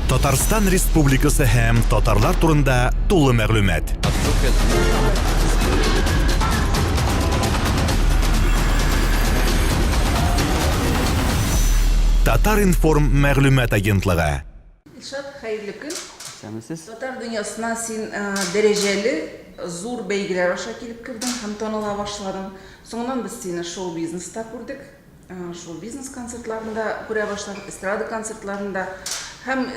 Татарстан Республикасы һәм татарлар турында тулы мәгълүмат. Татар информ мәгълүмат агентлыгы. Илшат, хәерле көн. Исәнмесез. Татар дөньясына син э, дәрәҗәле зур бәйгеләр аша килеп кердең һәм таныла башладың. Соңыннан без сине шоу-бизнеста күрдек. Шул бизнес концертларында күрә башладык, эстрада концертларында. Һәм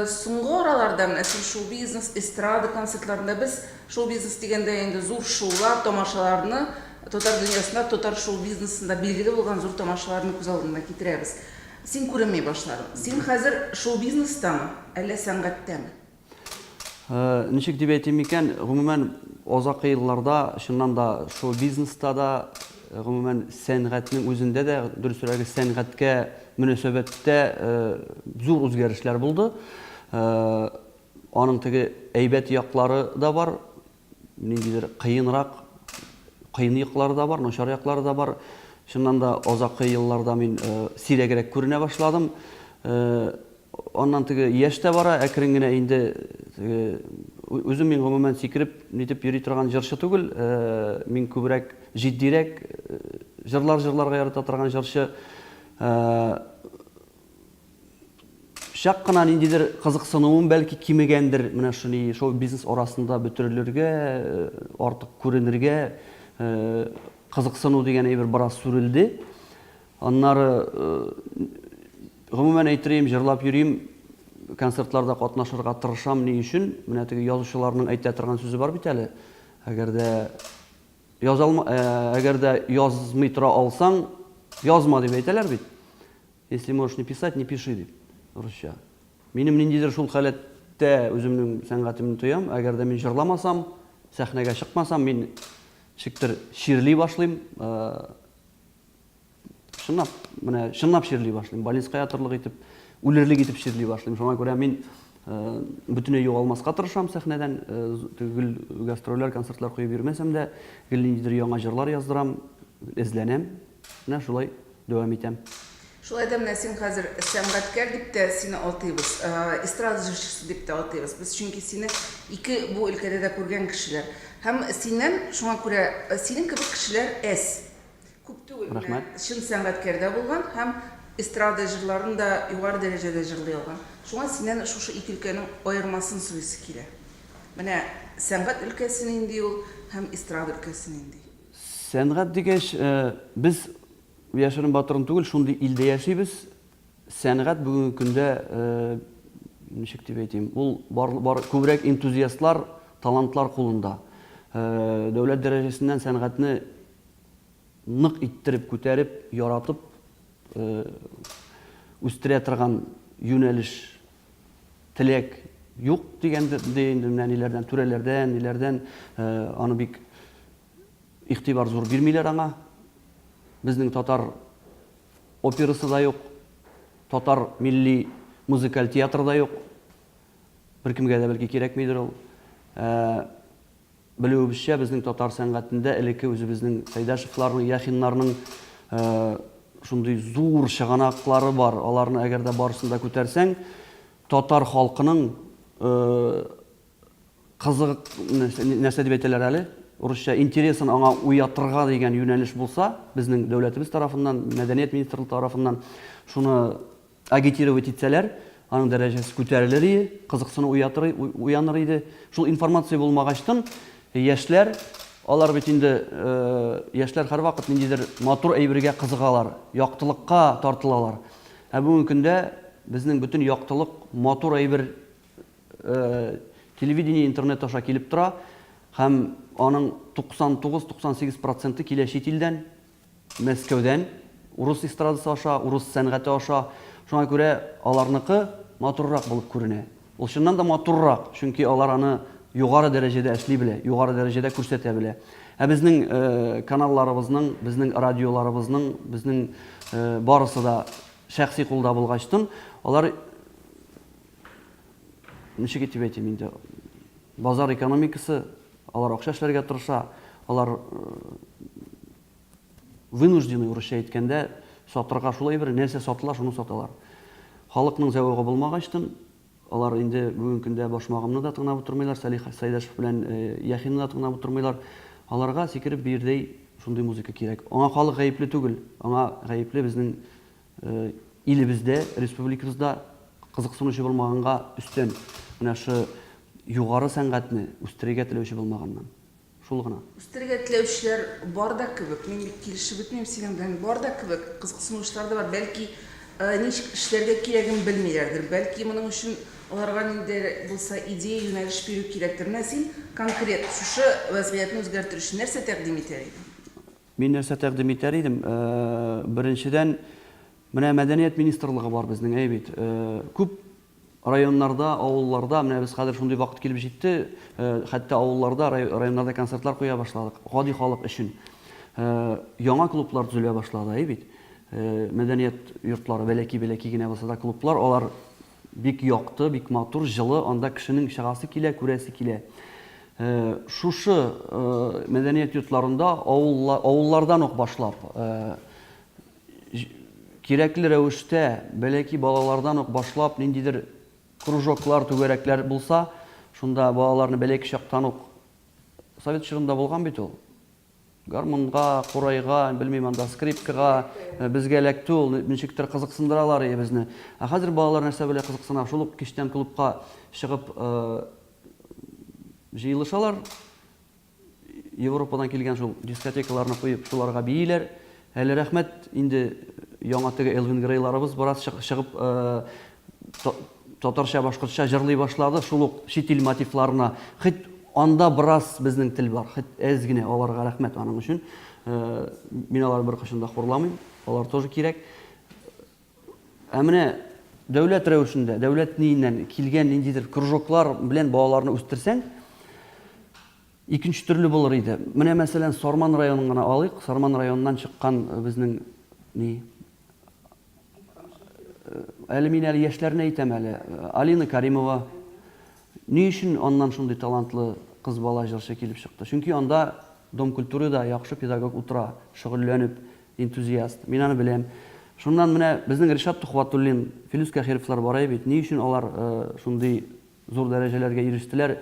соңгы араларда менә син шул бизнес, эстрада концертларында без шул бизнес дигәндә инде зур шоулар, тамашаларны татар дөньясында, татар шоу бизнесында билгеле булган зур тамашаларны күз алдына китерәбез. Син күренми башладың. Син хәзер шоу бизнестамы, әллә сәнгатьтәме? Ничек дип әйтим икән, гомумән, озак елларда, чыннан да, шул бизнеста да, гомумән, сәнгатьнең үзендә дә, дөресрәге, сәнгатькә мөнәсәбәттә зур үзгәрешләр булды. Аның теге әйбәт яклары да бар, Ниндидер кыенрак, кыен яклары да бар, начар яклары да бар. Чыннан да озаккы елларда мин э, сирәгрәк күренә башладым. Э, аннан теге яшь тә бара, әкрен генә инде э, үзем мин гомумән сикереп нитеп йөри торган җырчы түгел. Мин күбрәк җитдирәк җырлар җырларга ярата торган җырчы. Чак кына ниндидер кызыксынуым бәлки кимегәндер, менә шуни шоу-бизнес арасында бөтерелергә, э, артык күренергә э, кызыксыну дигән әйбер бераз сүрелде. Аннары э, гомумән әйтерим, җырлап йөрим, концертларда катнашырга тырышам ни өчен? Менә теге язучыларның әйтә торган сүзе бар бит әле. Әгәр дә язалма, әгәр дә язмый тора алсаң, язма дип әйтәләр бит. Если можешь не писать, не пиши, дип, русча. Минем ниндидер шул халәттә үземнең сәнгатемне тоям. Әгәр дә мин җырламасам, сәхнәгә чыкмасам, мин ничектер чирли башлыйм. Чынлап, менә чынлап чирли башлыйм. Больницка ятырлык итеп, үлерлек итеп чирли башлыйм. Шуңа күрә мин бөтенләй югалмаска тырышам сәхнәдән. Гел гастрольләр, концертлар куеп йөрмәсәм дә, гел ниндидер яңа җырлар яздырам, эзләнәм. Менә шулай. дәвам итәм. Шулай да менә син хәзер сәнгатькәр дип тә сине атыйбыз, эстрада җырчысы дип тә атыйбыз без, чөнки сине ике бу өлкәдә дә күргән кешеләр. Һәм синнән шуңа күрә синең кебек кешеләр әз. Күп түгел менә чын сәнгатькәр дә булган һәм эстрада җырларын да югары дәрәҗәдә җырлый алган. Шуңа синнән шушы ике өлкәнең аермасын сорыйсы килә. Менә сәнгать өлкәсе нинди ул һәм эстрада өлкәсе нинди? Сәнгать дигәч, без яшерен-батырын түгел, шундый илдә яшибез. Сәнгать бүгенге көндә, ничек дип әйтим, ул күбрәк энтузиастлар, талантлар кулында. Дәүләт дәрәҗәсеннән сәнгатьне нык иттереп, күтәреп, яратып үстерә торган юнәлеш теләк юк дигән ди инде менә ниләрдән, түрәләрдән, ниләрдән э, аны бик игътибар зур бирмиләр аңа. Безнең татар операсы да юк, татар милли музыкаль театры да юк. Беркемгә дә бәлки кирәкмидер ул. Э, Белүебезчә, безнең татар сәнгатендә элекке үзебезнең Сәйдәшевларның, Яхиннарның шундый зур чыганаклары бар. Аларны әгәр дә барысын да күтәрсәң, татар халкының кызык, нәрсә дип әйтәләр әле, урысча, интересын аңа уятырга дигән юнәлеш булса, безнең дәүләтебез тарафыннан, мәдәният министрлыгы тарафыннан шуны Агитировать итсәләр, аның дәрәҗәсе күтәрелер ие, кызыксыну уятыр, уяныр иде. Шул информация булмагачтын, яшьләр, алар бит инде, яшьләр һәрвакыт ниндидер матур әйбергә кызыгалар, яктылыкка тартылалар. Ә бүгенге көндә безнең бөтен яктылык, матур әйбер телевидение, интернет аша килеп тора һәм аның 99-98 проценты килә чит илдән. Мәскәүдән, урыс эстрадасы аша, урыс сәнгате аша. Шуңа күрә аларныкы матуррак булып күренә. Ул чыннан да матуррак, чөнки алар аны югары дәрәҗәдә эшли белә, югары дәрәҗәдә күрсәтә белә. Ә безнең каналларыбызның, безнең радиоларыбызның, безнең барысы да шәхси кулда булгачтын, алар ничек итеп әйтим инде, базар экономикасы Алар акча эшләргә тырыша, алар вынужденный, урысча әйткәндә, сатырга шул әйберне, нәрсә сатыла, шуны саталар. Халыкның зәвыгы булмагачтын, алар инде бүген көндә Башмагымны да тыңлап утырмыйлар, Салих Сәйдәшев белән Яхины да тыңлап утырмыйлар. Аларга сикереп биердәй шундый музыка кирәк. Аңа халык гаепле түгел, аңа гаепле безнең Илебездә, республикабызда кызыксынучы булмаганга өстән, менә шы югары сәнгатьне үстерергә теләүче булмаганнан. Шул гына. Үстерергә теләүчеләр бар да кебек. Мин бит килешеп бетмим синең белән. Бар да кебек. Кызыксынучылар да бар. Бәлки, ничек эшләргә кирәген белмиләрдер. Бәлки, моның өчен аларга нинди дә булса идея, юнәлеш бирү кирәктер. Менә син конкрет шушы вәзгыятьне үзгәртер өчен нәрсә тәкъдим итәр идең? Мин нәрсә тәкъдим итәр идем? Беренчедән, менә мәдәният министрлыгы бар безнең, әй бит. Күп районнарда, авылларда, менә без хәзер шундый вакыт килеп җитте, хәтта авылларда, районнарда концертлар куя башладык, гади халык өчен. Яңа клублар төзелә башлады, әй бит. Мәдәният йортлары, бәләки-бәләки генә булса да клублар, алар Бик якты, бик матур, җылы, анда кешенең чыгасы килә, күрәсе килә. Шушы мәдәният йортларында авыллардан ук башлап, кирәкле рәвештә, бәләки балалардан ук башлап, ниндидер кружоклар, түгәрәкләр булса, шунда балаларны бәләки чактан ук, совет чорында булган бит ул. Гармунга, курайга, белмим анда, скрипкага безгә эләкте ул, ничектер кызыксындыралар иде безне. Ә хәзер балалар нәрсә белән кызыксына? Шул ук кичтән клубка чыгып җыелышалар. Европадан килгән шул дискотекаларны куеп, шуларга бииләр. Әле рәхмәт, инде яңа теге Элвин Грейларыбыз бераз чыгып татарча, башкортча җырлый башлады, шул ук чит ил мотивларына. Хит анда бераз безнең тел бар, хит әз генә, аларга рәхмәт аның өчен. Мин алар бер кашын да хурламыйм, алар тоже кирәк. Ә менә дәүләт рәвешендә, дәүләт ниеннән килгән ниндидер кружоклар белән балаларны үстерсәң, Икенче төрле булыр иде. Менә, мәсәлән, Сарман районын гына алыйк. Сарман районыннан чыккан безнең ни? Әле мин әле яшьләрне әйтәм әле. Алина Каримова. Ни өчен аннан шундый талантлы кыз бала җырчы килеп чыкты? Чөнки анда Дом культурыда яхшы педагог утыра, шөгыльләнеп, энтузиаст. Мин аны беләм. Шуннан менә безнең Ришат Тухватуллин, Филүс Кәхировлар бара бит. Ни өчен алар шундый Зур дәрәҗәләргә ирештеләр.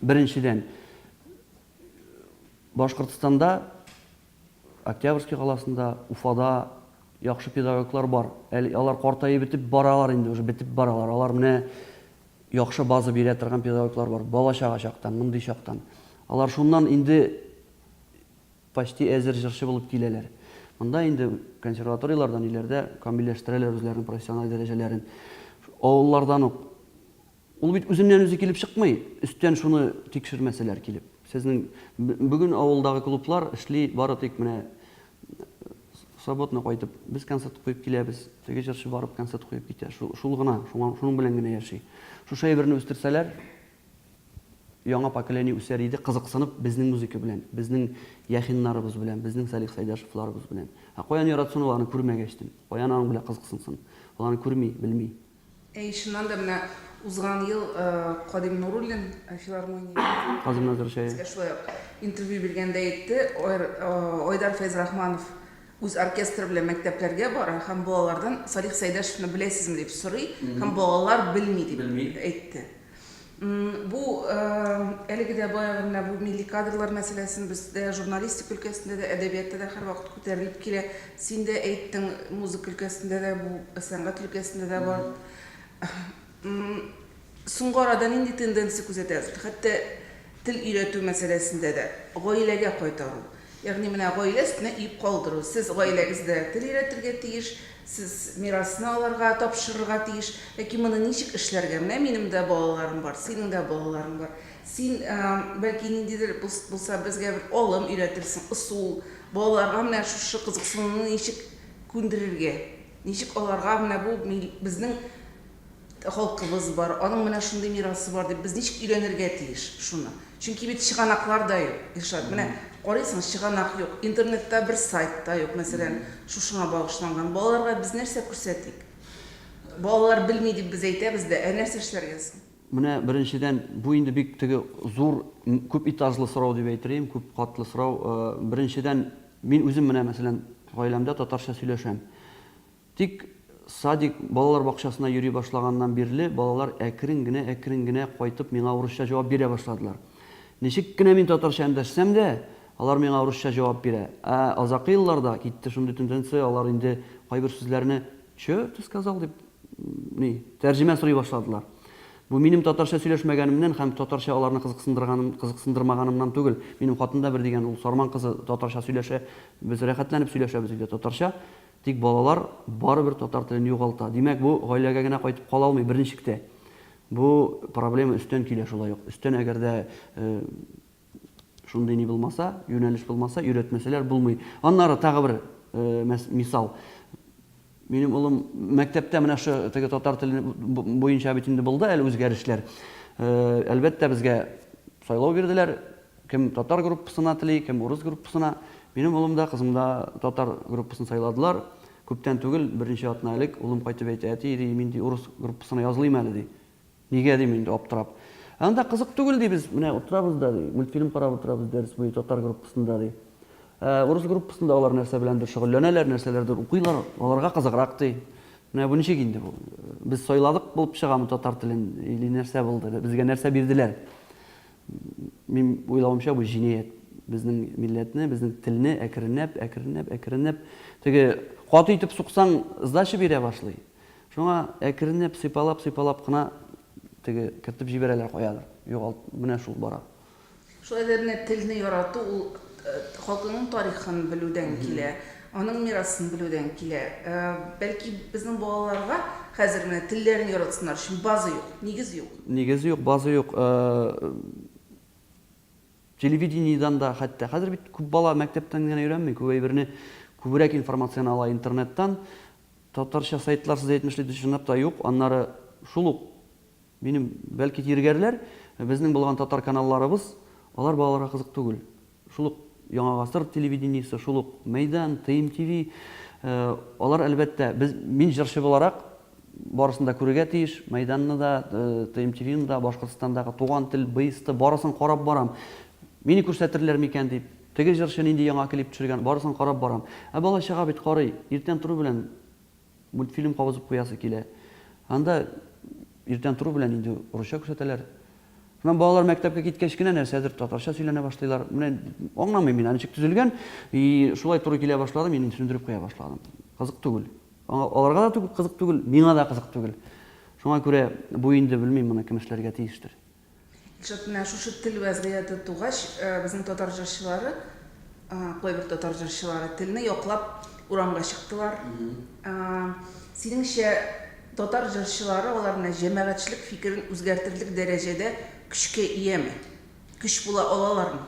Беренчедән, Башкортстанда, Октябрьский каласында, Уфада яхшы педагоглар бар. Әле алар картаеп бетеп баралар инде, уже бетеп баралар. Алар менә яхшы база бирә торган педагоглар бар. Бала-чага чактан, мондый чактан. Алар шуннан инде Почти әзер җырчы булып киләләр. Монда инде консерваторияләрдән ниләрдә камилләштерәләр үзләренең профессиональ дәрәҗәләрен. Авыллардан ук. Ул бит үзеннән-үзе килеп чыкмый, өстән шуны тикшермәсәләр килеп. Сезнең бүген авылдагы клублар эшли бары тик менә субботно кайтып, без концерт куеп киләбез, теге җырчы барып концерт куеп китә. Шул гына, шуның белән генә яши. Шушы әйберне үстерсәләр. Яңа поколение үсәр иде, кызыксынып, безнең музыка белән, безнең Яхиннарыбыз белән, безнең Салих Сәйдәшевларыбыз белән. Ә каян яратсын ул, аны күрмәгәч тем. Каян аның белән кызыксынсын? Ул аны күрми, белми. Әй, чыннан да, менә узган ел Кадим Нуруллин филармониягә Казым Назыр чәе. безгә шулай ук интервью биргәндә әйтте, Айдар Фәйзрахманов үз оркестры белән мәктәпләргә бара һәм балалардан Салих Сәйдәшевны беләсезме дип сорый һәм балалар белми дип әйтте. Бу әлеге дә баягы менә бу милли кадрлар мәсьәләсен бездә журналистика өлкәсендә дә, әдәбиятта да һәрвакыт күтәрелеп килә. Син дә әйттең, музыка өлкәсендә дә бу, сәнгать өлкәсендә дә бар. Соңгы арада нинди тенденция күзәтәсез? Хәтта Тел өйрәтү мәсьәләсендә дә, гаиләгә кайтару, ягъни менә гаилә өстенә иеп калдыру, сез гаиләгездә тел өйрәтергә тиеш, сез мирасны аларга тапшырырга тиеш, ләкин моны ничек эшләргә? Менә минем дә балаларым бар, синең дә балаларың бар. Син, бәлки, ниндидер булса безгә бер алым өйрәтерсең, ысул, балаларга менә шушы кызыксынуны ничек күндерергә, ничек аларга менә бу безнең Халкыбыз бар, аның менә шундый мирасы бар дип, без ничек өйрәнергә тиеш шуны? Чөнки бит чыганаклар да юк, Илшат. Менә карыйсың, чыганак юк, интернетта бер сайт та юк, мәсәлән, шушыңа багышланган. Балаларга без нәрсә күрсәтик? Балалар белми дип без әйтәбез дә, ә нәрсә эшләргә соң? Менә беренчедән, бу инде бик теге зур, күп этажлы сорау дип әйтерлим, күп катлы сорау. Беренчедән, мин үзем менә, мәсәлән, гаиләмдә татарча сөйләшәм. Тик садик, балалар бакчасына йөри башлаганнан бирле, балалар әкрен генә-әкрен генә кайтып миңа урысча җавап бирә башладылар. Ничек кенә мин татарча эндәшсәм дә, алар миңа урысча җавап бирә. Ә азакы елларда китте шундый тенденция, алар инде кайбер сүзләрне Чё ты сказал? дип, ни, тәрҗемә сорый башладылар. Бу минем татарча сөйләшмәгәнемнән һәм татарча аларны кызыксындырганым, кызыксындырмаганымнан түгел. Минем хатын да бер дигән, ул Сарман кызы татарча сөйләшә, без рәхәтләнеп сөйләшәбез өйдә татарча. Тик балалар барыбер татар телен югалта. Димәк, бу гаиләгә генә кайтып кала алмый, берничек тә. Бу проблема өстән килә шулай ук. Өстән әгәр дә шундый ни булмаса, юнәлеш булмаса, өйрәтмәсәләр, булмый. Аннары тагы бер мисал. Минем улым мәктәптә менә шу теге татар теле буенча бит инде булды әле үзгәрешләр. Әлбәттә, безгә сайлау бирделәр, Кем татар группасына тели, кем урыс группасына. Минем улым да, кызым да татар группасын сайладылар. Күптән түгел, берничә атна элек улым кайтып әйтә, Әти, ди, мин, ди, урыс группасына язылыйм әле, ди. Нигә, дим инде, аптырап. Анда кызык түгел, ди, без менә утырабыз да, ди, мультфильм карап утырабыз дәрес буе татар группасында, ди. Ә урыс группасында алар нәрсә беләндер шөгыльләнәләр, нәрсәләрдер укыйлар, аларга кызыграк, ди. Менә бу ничек инде бу? Без сайладык булып чыгамы татар телен или нәрсә булды, безгә нәрсә бирделәр? Минем уйлавымча, бу җинаять. Безнең милләтне, безнең телне әкренләп, әкренләп, әкренләп, теге каты итеп суксаң, сдача бирә башлый. Шуңа әкренләп, сыйпалап, сыйпалап кына теге кертеп җибәрәләр каядыр. Югалт, менә шул бара. Шулай да менә телне ярату ул халкыңның тарихын белүдән килә. Аның мирасын белүдән килә. Бәлки, безнең балаларга хәзер менә телләрен яратсыннар өчен база юк, нигез юк. Нигез юк, база юк. Телевидениедән дә хәтта. Хәзер бит күп бала мәктәптән генә өйрәнми, күп әйберне күбрәк информацияне ала интернеттан. Татарча сайтлар, сез әйтмешли, дөрес чынлап та юк. Аннары шул ук минем, бәлки, тиргәрләр, безнең булган татар каналларыбыз, алар балаларга кызык түгел. Шул ук Яңа гасыр телевидениесе, шул ук Мәйдан, Тыйм ТВ, алар, әлбәттә, без, мин җырчы буларак, барысын да күрергә тиеш, Мәйданны да, Тыйм ТВны да, Башкортстандагы Туган тел, БСТ, барысын карап барам. Мине күрсәтерләр микән дип, теге җырчы нинди яңа клип төшергән, барысын карап барам. Ә бала-чага бит карый, иртән тору белән Мультфильм кагызып куясы килә. Анда иртән тору белән инде русча күрсәтәләр. Шуннан балалар мәктәпкә киткәч кенә нәрсәдер татарча сөйләнә башлыйлар. Менә аңламыйм мин, ничек төзелгән, и шулай туры килә башлады, мин сүндереп куя башладым. Кызык түгел. Аларга да түгел, кызык түгел, миңа да кызык түгел. Шуңа күрә бу инде, белмим, моны кем эшләргә тиештер. Илшат, менә шушы тел вәзгыяте тугач, безнең татар җырчылары, кайбер татар җырчылары телне яклап урамга чыктылар. Синеңчә, татар җырчылары алар менә җәмәгатьчелек фикерен үзгәртерлек дәрәҗәдә көчкә ияме? Көч була алалармы?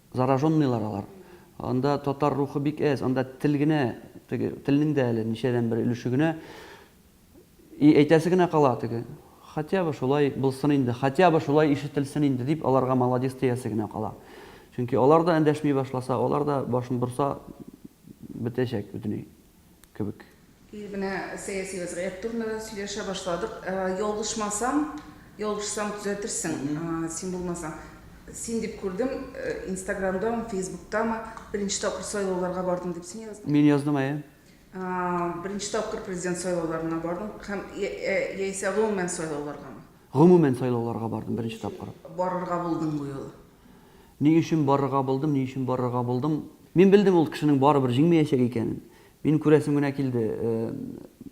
Зараженныйлар алар. Анда татар рухы бик әз, анда тел генә, теге телнең дә әле ничәдән бер өлеше генә. И әйтәсе генә кала теге, Хотя бы шулай булсын инде, хотя бы шулай ишетелсен инде, дип аларга молодец диясе генә кала. Чөнки алар да эндәшми башласа, алар да башын борса, бетәчәк бөтенләй. кебек. Ир менә сәяси вәзгыять турында да сөйләшә башладык. Ялгышмасам, ялгышсам төзәтерсең, син булмасаң. Син дип күрдем, инстаграмдамы, фейсбуктамы, беренче тапкыр сайлауларга бардым дип син яздың. Мин яздым, әйе. Беренче тапкыр президент сайлауларына бардың һәм яисә гомумән сайлауларгамы? Гомумән сайлауларга бардым беренче тапкыр. Барырга булдың бу юлы. Ни өчен барырга булдым, ни өчен барырга булдым? Мин белдем ул кешенең барыбер җиңмәячәк икәнен. Мин күрәсем генә килде.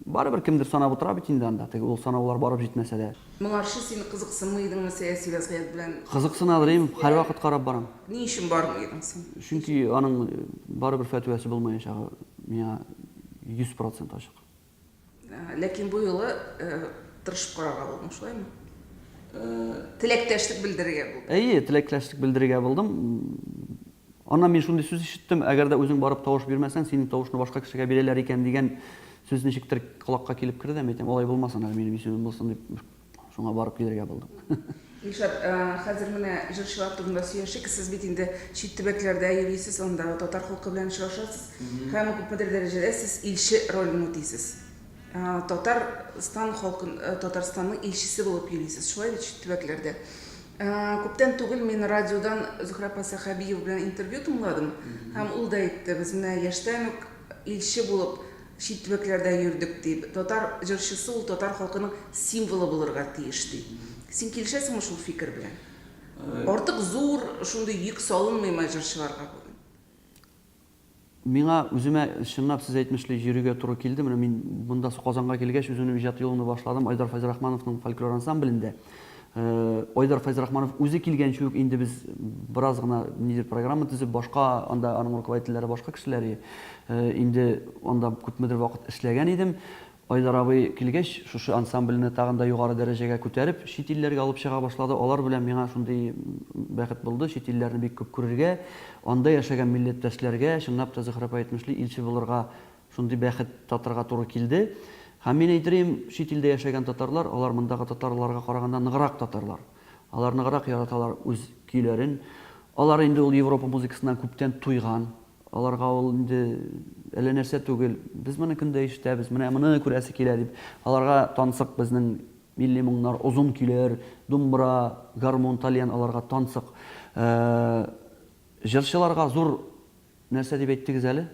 Барыбер кемдер санап утыра бит инде анда, теге ул санаулар барып җитмәсә дә. Моңарчы син кызыксынмый идеңме сәяси вәзгыять белән? Кызыксынадыр, им, һәрвакыт карап барам. Ни өчен бармый идең син? Чөнки аның барыбер фәтвәсе булмаячагы миңа йөз процент ачык. Ләкин бу юлы тырышып карарга булдым, шулаймы? Теләктәшлек белдерергә булдым. Әйе, теләктәшлек белдерергә булдым. Аннан мин шундый сүз ишеттем, әгәр дә үзең барып тавыш бирмәсәң, синең тавышны башка кешегә бирәләр икән дигән сүз ничектер колакка килеп керде, әйтәм, алай булмасын әле минем исемем булсын дип, Шуңа барып килергә булдым. Илшат, э, хәзер менә җырчылар турында сөйләшик. Сез бит инде чит төбәкләрдә йөрисез, анда татар халкы белән очрашасыз. Һәм күпмедер дәрәҗәдә сез илче ролен үтисез. Э, татар Стан халкын, э, Татарстанның илчесе булып йөрисез, шулай бит чит төбәкләрдә. Э, күптән түгел мин радиодан Зөхрә апа Сәхәбиева белән интервью тыңладым. Һәм ул да әйтте, без менә яшьтән үк илче булып Чит төбәкләрдә йөрдек, ди. Татар җырчысы ул татар халкының символы булырга тиеш, ди. Син килешәсеңме шул фикер белән? Артык зур шундый йөк салынмыймы җырчыларга бүген? Миңа үземә, чынлап сез әйтмешле, йөрергә туры килде. Менә мин монда Казанга килгәч, үземнең иҗат юлымны башладым Айдар Фәйзрахмановның фольклор ансамблендә. Айдар Файзрахманов үзе килгәнче үк инде без бераз гына нидер программа төзеп, башка анда аның руководительләре башка кешеләр инде анда күпмедер вакыт эшләгән идем. Айдар абый килгәч, шушы ансамбльне тагын да югары дәрәҗәгә күтәреп, чит илләргә алып чыга башлады. Алар белән миңа шундый бәхет булды, чит илләрне бик күп күрергә, анда яшәгән милләттәшләргә чынлап та Зөһрәп Әйтмешли илче булырга Шундый бәхет татырга туры килде. Һәм мин әйтерием, чит илдә яшәгән татарлар, алар мондагы татарларга караганда ныграк татарлар. Алар ныграк яраталар үз көйләрен. Алар инде ул Европа музыкасыннан күптән туйган. Аларга ул инде әллә нәрсә түгел. Без моны көндә ишетәбез, менә моны күрәсе килә дип. Аларга тансык безнең милли моңнар, озын көйләр, думбра, гармун, тальян аларга тансык. Җырчыларга зур Нәрсә дип әйттегез әле?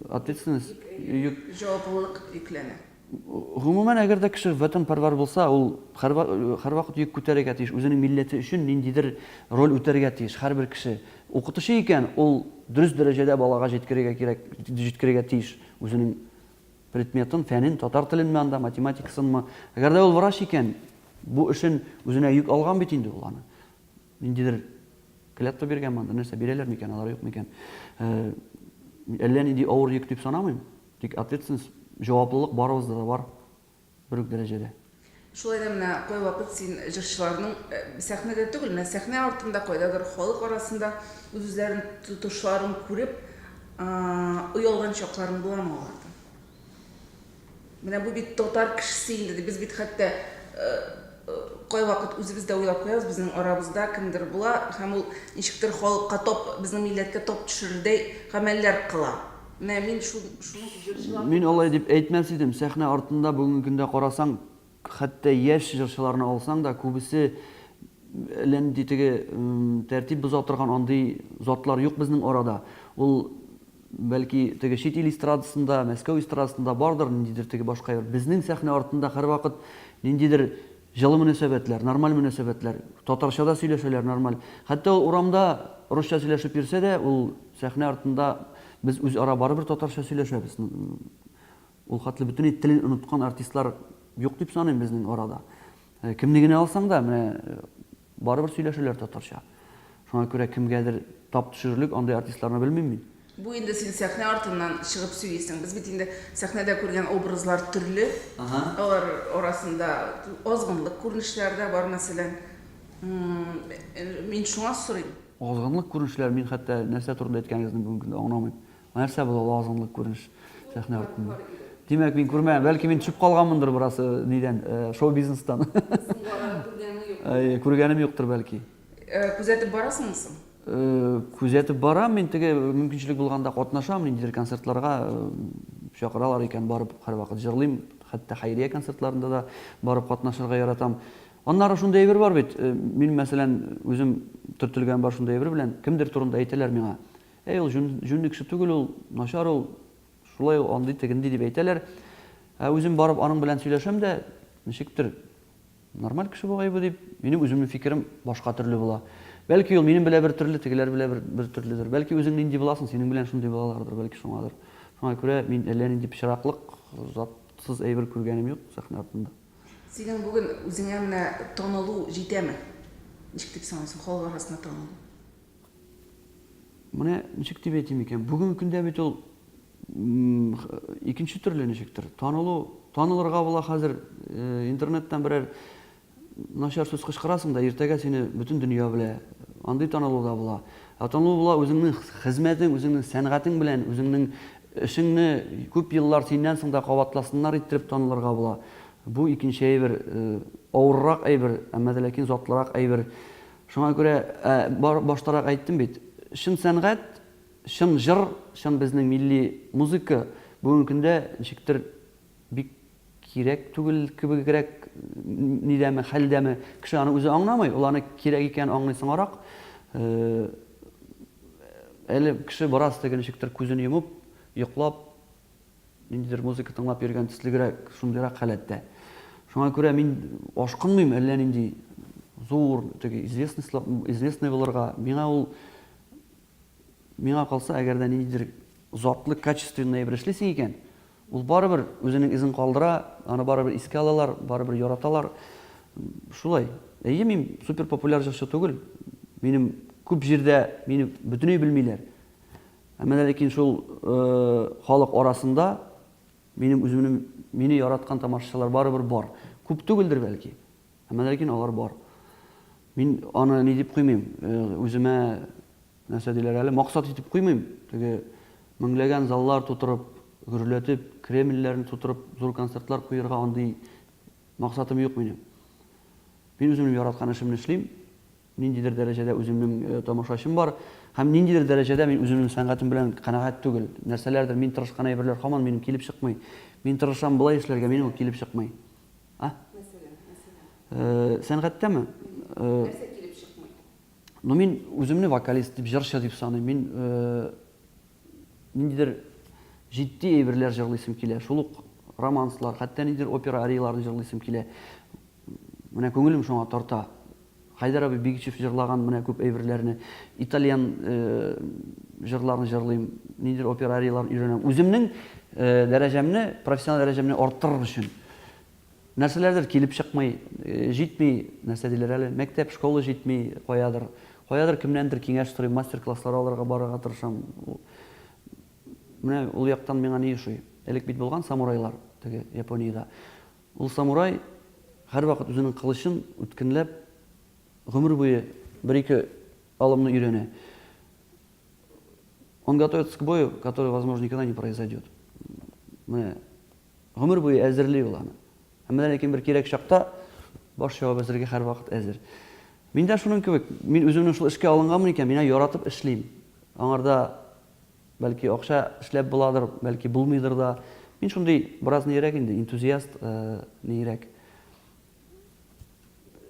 Ответственность? Йөк. Җаваплылык йөкләнә. Гомумән, әгәр дә кеше ватанпәрвәр булса, ул һәрвакыт йөк күтәрергә тиеш, үзенең милләте өчен ниндидер роль үтәргә тиеш. Һәрбер кеше укытучы икән, ул дөрес дәрәҗәдә балага җиткерергә кирәк, җиткерергә тиеш үзенең предметын, фәнен, татар теленме анда, математикасынмы. Әгәр дә ул врач икән, бу эшен үзенә йөк алган бит инде ул аны. Ниндидер клятва биргән монда, нәрсә бирәләр микән, алар юк микән? Әллә нинди авыр йөк дип санамыйм, тик ответственность, җаваплылык барыбызда да бар бер үк дәрәҗәдә. Шулай да менә кайвакыт син җырчыларның сәхнәдә түгел, менә сәхнә артында, кайдадыр халык арасында үз-үзләрен тотышларын күреп, оялган чакларың буламы алардан? Менә бу бит татар кешесе инде, ди. Без бит хәтта кайвакыт үзебез дә уйлап куябыз, безнең арабызда кемдер була һәм ул ничектер халыкка тап, безнең милләткә тап төшерердәй гамәлләр кыла. Менә мин шуны җырчылар. Мин алай дип әйтмәс идем. Сәхнә артында бүгенге көндә карасаң, Хәтта яшь җырчыларны алсаң да, күбесе әллә нинди теге тәртип боза торган андый затлар юк безнең арада. Ул, бәлки, теге чит ил эстрадасында, Мәскәү эстрадасында бардыр, ниндидер теге башка йорт. Безнең сәхнә артында һәрвакыт ниндидер җылы мөнәсәбәтләр, нормаль мөнәсәбәтләр. Татарча да сөйләшәләр нормаль. Хәтта ул урамда русча сөйләшеп йөрсә дә, ул сәхнә артында без үзара барыбер татарча сөйләшәбез. Ул хәтле бөтенләй телен оныткан артистлар юк дип саныйм безнең арада. Кемне генә алсаң да, менә барыбер сөйләшәләр татарча. Шуңа күрә кемгәдер тап төшерерлек андый артистларны белмим мин. Бу инде син сәхнә артыннан чыгып сөйлисең. Без бит инде сәхнәдә күргән образлар төрле. Алар арасында азгынлык күренешләре дә бар, мәсәлән. Мин шуңа сорыйм. Азгынлык күренешләре, мин хәтта нәрсә турында әйткәнегезне бүгенге көндә аңламыйм. Нәрсә бу лазанлы күренеш сәхнә артында? Димәк, мин күрмәгән, бәлки мин төшеп калганмындыр бераз э, нидән, э, шоу-бизнестан. Күргәнем юктыр бәлки. Э, күзәтеп барасыңмы соң? Күзәтеп барам, мин теге мөмкинчелек булганда катнашам, ниндидер концертларга чакыралар икән, барып һәрвакыт җырлыйм, хәтта хәйрия концертларында да барып катнашырга яратам. Аннары шундый әйбер бар бит, мин мәсәлән үзем төртелгән бар шундый әйбер белән, кемдер турында әйтәләр миңа. Әй, ул җүнлек су түгел ул, начар ул, шулай ул андый, тегенди дип әйтәләр. Ә үзем барып аның белән сөйләшәм дә, ничектер, нормаль кеше бугай бу дип, минем үземнең фикерем башка төрле була. Бәлки ул минем белән бер төрле, тегеләр белән бер, бер төрледер. Бәлки үзең нинди буласың, синең белән шундый булалардыр, бәлки шуңадыр. Шуңа күрә мин әллә нинди пычраклык, затсыз әйбер күргәнем юк сәхнә артында. Синең бүген үзеңә менә танылу җитәме? Ничек дип саныйсың, халык арасында танылу? Менә ничек дип әйтим икән, бүгенге көндә бит ул икенче төрле ничектер. Танылу, танылырга була хәзер э, интернеттан берәр начар сүз кычкырасың да, иртәгә сине бөтен дөнья белә. Андый танылу да була. Ә танылу була үзеңнең хезмәтең, үзеңнең сәнгатең белән, үзеңнең эшеңне күп еллар синнән соң да кабатласыннар иттереп танылырга була. Бу икенче әйбер, э, авыррак әйбер, әмма дә ләкин затлырак әйбер. Шуңа күрә, баштарак әйттем бит, чын сәнгать, чын җыр, чын безнең милли музыка бүгенге көндә ничектер бик кирәк түгел кебегрәк нидәме, хәлдәме. Кеше аны үзе аңламый, ул аны кирәк икәнен аңлый соңарак. Әле кеше бераз теге ничектер күзен йомып, йоклап, Ниндидер музыка тыңлап йөргән төслегрәк, шундыйрак халәттә. Шуңа күрә мин ашкынмыйм әллә нинди зур, теге известный булырга. Миңа ул миңа калса, әгәр дә ниндидер затлы, качественный әйбер эшлисең икән, ул барыбер үзенең эзен калдыра, аны барыбер искә алалар, барыбер яраталар. Шулай. Әйе, мин супер популяр җырчы түгел. Минем күп җирдә мине бөтенләй белмиләр. Ә менә ләкин шул халык арасында минем үземнең мине яраткан тамашачылар барыбер бар. Күп түгелдер, бәлки. Ә менә ләкин алар бар. Мин аны ни дип куймыйм, үземә нәрсә диләр әле, максат итеп куймыйм. Теге меңләгән заллар тутырып, гөрләтеп, Кремльләрне тутырып, зур концертлар куерга андый максатым юк минем. Мин үземнең яраткан эшемне эшлим. ниндидер дәрәҗәдә үземнең тамашачым бар һәм ниндидер дәрәҗәдә мин үземнең сәнгатем белән канәгать түгел. Нәрсәләрдер мин тырышкан әйберләр һаман минем килеп чыкмый. Мин тырышам болай эшләргә, минем ул килеп чыкмый. А? Мәсәлән, мәсәлән. Сәнгатьтәме? Нәрсә килеп чыкмый? Ну мин үземне вокалист дип, җырчы дип саныйм. Мин Ниндидер җитди әйберләр җырлыйсым килә, шул ук романслар, хәтта ниндидер опера арияларын җырлыйсым килә. Менә күңелем шуңа тарта. Хәйдәр абый Бигичев җырлаган менә күп әйберләрне, итальян җырларын җырлыйм, ниндидер опера арияларын өйрәнәм. Үземнең дәрәҗәмне, профессиональ дәрәҗәмне арттырыр өчен. Нәрсәләрдер килеп чыкмый, җитми, нәрсә диләр әле, мәктәп, школа җитми, каядыр. Каядыр кемнәндер киңәш сорыйм, мастер-класслар алырга барырга тырышам. Менә ул яктан миңа ни ошый? Элек бит булган самурайлар, теге Япониядә. Ул самурай һәрвакыт үзенең кылычын үткенләп, гомер буе бер-ике алымны өйрәнә. Он готовится к бою, который, возможно, никогда не произойдет. Менә Гомер буе әзерли ул аны. Әмма дә ләкин бер кирәк чакта баш ябып әзергә һәрвакыт әзер. Мин дә шуның кебек, мин үземнең шул эшкә алынганмын икән, мин яратып эшлим. Аңарда бәлки акча эшләп буладыр, бәлки булмыйдыр да. Мин шундый бераз нирәк инде, энтузиаст, э, нирәк.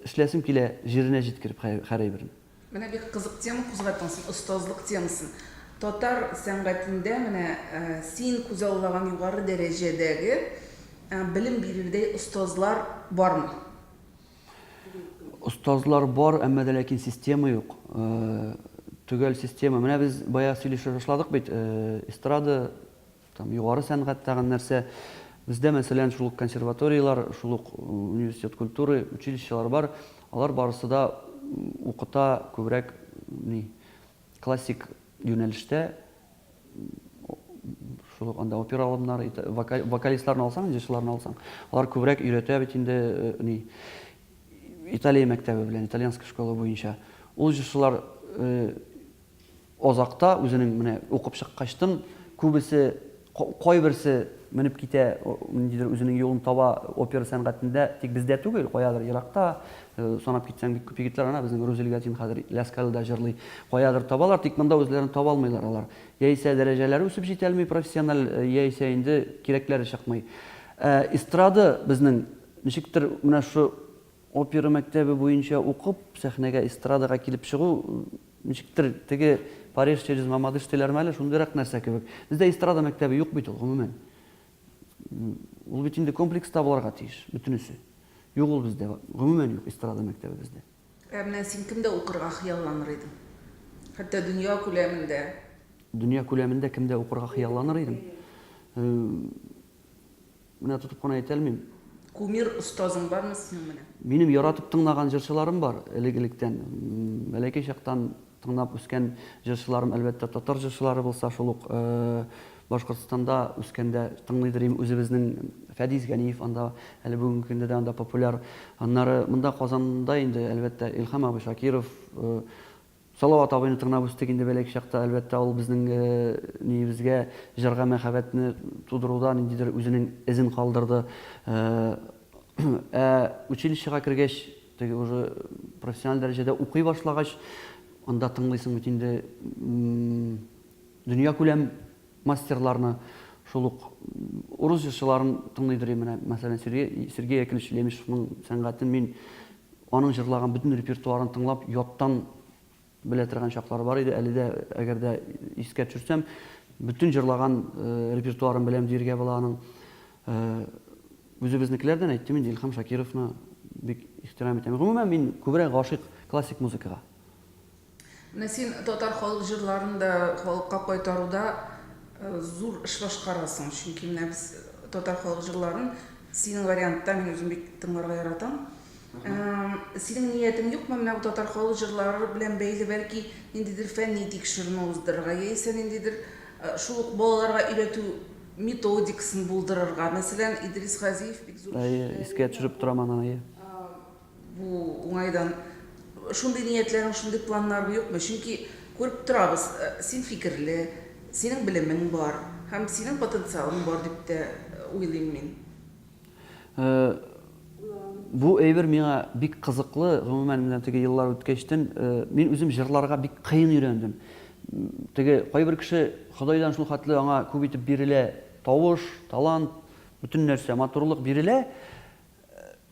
Эшләсем килә җиренә җиткереп хәр әйберне. Менә бик кызык тема кузгаттың син, остазлык темасын. Татар сәнгатендә менә син күзаллаган югары дәрәҗәдәге белем бирердәй остазлар бармы? Остазлар бар, әмма дә ләкин система юк. Төгәл система. Менә без бая сөйлешә башладык бит, эстрада Там югары сәнгать тагын нәрсә? Бездә, мәсәлән, шул ук консерваторияләр, шул ук университет культуры, училищелар бар. Алар барысы да укыта күбрәк ни классик юнәлештә шул ук анда опера алымнары, вокалистларны алсаң, җырчыларны алсаң, алар күбрәк өйрәтә бит инде ни Италия мәктәбе белән, итальянская школа буенча. Ул җырчылар Азакта үзенең менә укып чыккачтын күбесе, кайберсе менеп китә, ниндидер үзенең юлын таба опера сәнгатендә, тик бездә түгел, каядыр еракта, санап китсәң бик күп егетләр, ана безнең Рузил Гатин хәзер Ляскалида җырлый, каядыр табалар, тик монда үзләрен таба алмыйлар алар. Яисә дәрәҗәләре үсеп җитәлми профессиональ, яисә инде кирәкләре чыкмый. Ә эстрада безнең ничектер менә шушы Опера мәктәбе буенча укып, сәхнәгә, эстрадага килеп чыгу, ничектер, теге Париж через Мамадыш диләрме әле, шундыйрак нәрсә кебек. Бездә эстрада мәктәбе юк бит ул, гомумән. Ул бит инде комплекста булырга тиеш, бөтенесе. Юк ул бездә, гомумән юк эстрада мәктәбе бездә. Ә менә син кемдә укырга хыялланыр идең? Хәтта дөнья күләмендә. Дөнья күләмендә кемдә укырга хыялланыр идем? Менә тотып кына әйтә алмыйм. Кумир остазың бармы синең менә? Минем яратып тыңлаган җырчыларым бар элек-электән. Бәләкәй чактан тыңлап үскән җырчыларым, әлбәттә, татар җырчылары булса шул ук Башкортстанда үскәндә тыңлыйдыр идем үзебезнең Фәдис Ганиев анда әле бүгенге көндә дә анда популяр. Аннары монда Казанда инде, әлбәттә, Илһам абый Шакиров, Салават абыйны тыңнап үстек инде бәләкә чакта. Әлбәттә, ул безнең ниебезгә, җырга мәхәббәтне тудыруда ниндидер үзенең эзен калдырды. Ә училищега кергәч, теге уже профессиональ дәрәҗәдә укый башлагач, анда тыңлыйсың бит инде дөньякүләм мастерларны. Шул ук урыс җырчыларын тыңлыйдыр идем. Менә, мәсәлән, Сергей Яковлевич Лемешевның сәнгатен мин Аның җырлаган бөтен репертуарын тыңлап, яттан белә торган чаклары бар иде. Әле дә, әгәр дә искә төшерсәм, бөтен җырлаган репертуарын беләм диергә була аның. Үзебезнекеләрдән әйттем инде, Илһам Шакировны бик ихтирам итәм. Гомумән, мин күбрәк гашыйк классик музыкага. Менә син татар халык җырларын да халыкка кайтаруда зур эш башкарасың, чөнки менә без татар халык җырларын синең вариантта мин үзем бик тыңларга яратам. Синең ниятең юкмы менә бу татар халык җырлары белән бәйле бәлки ниндидер фәнни тикшеренү уздырырга яисә ниндидер шул ук балаларга өйрәтү методикасын булдырырга? Мәсәлән, Идрис Газиев бик зур эш. Искә төшереп торам аны, әйе. Бу уңайдан шундый ниятләрең, шундый планнарың юкмы? Чөнки күреп торабыз, син фикерле, синең белемең бар һәм синең потенциалың бар дип тә уйлыйм мин. Бу әйбер миңа бик кызыклы, гомумән, менә теге еллар үткәчтен мин үзем җырларга бик кыен өйрәндем. Теге кайбер кеше Ходайдан шул хәтле аңа күп итеп бирелә, тавыш, талант, бөтен нәрсә, матурлык бирелә,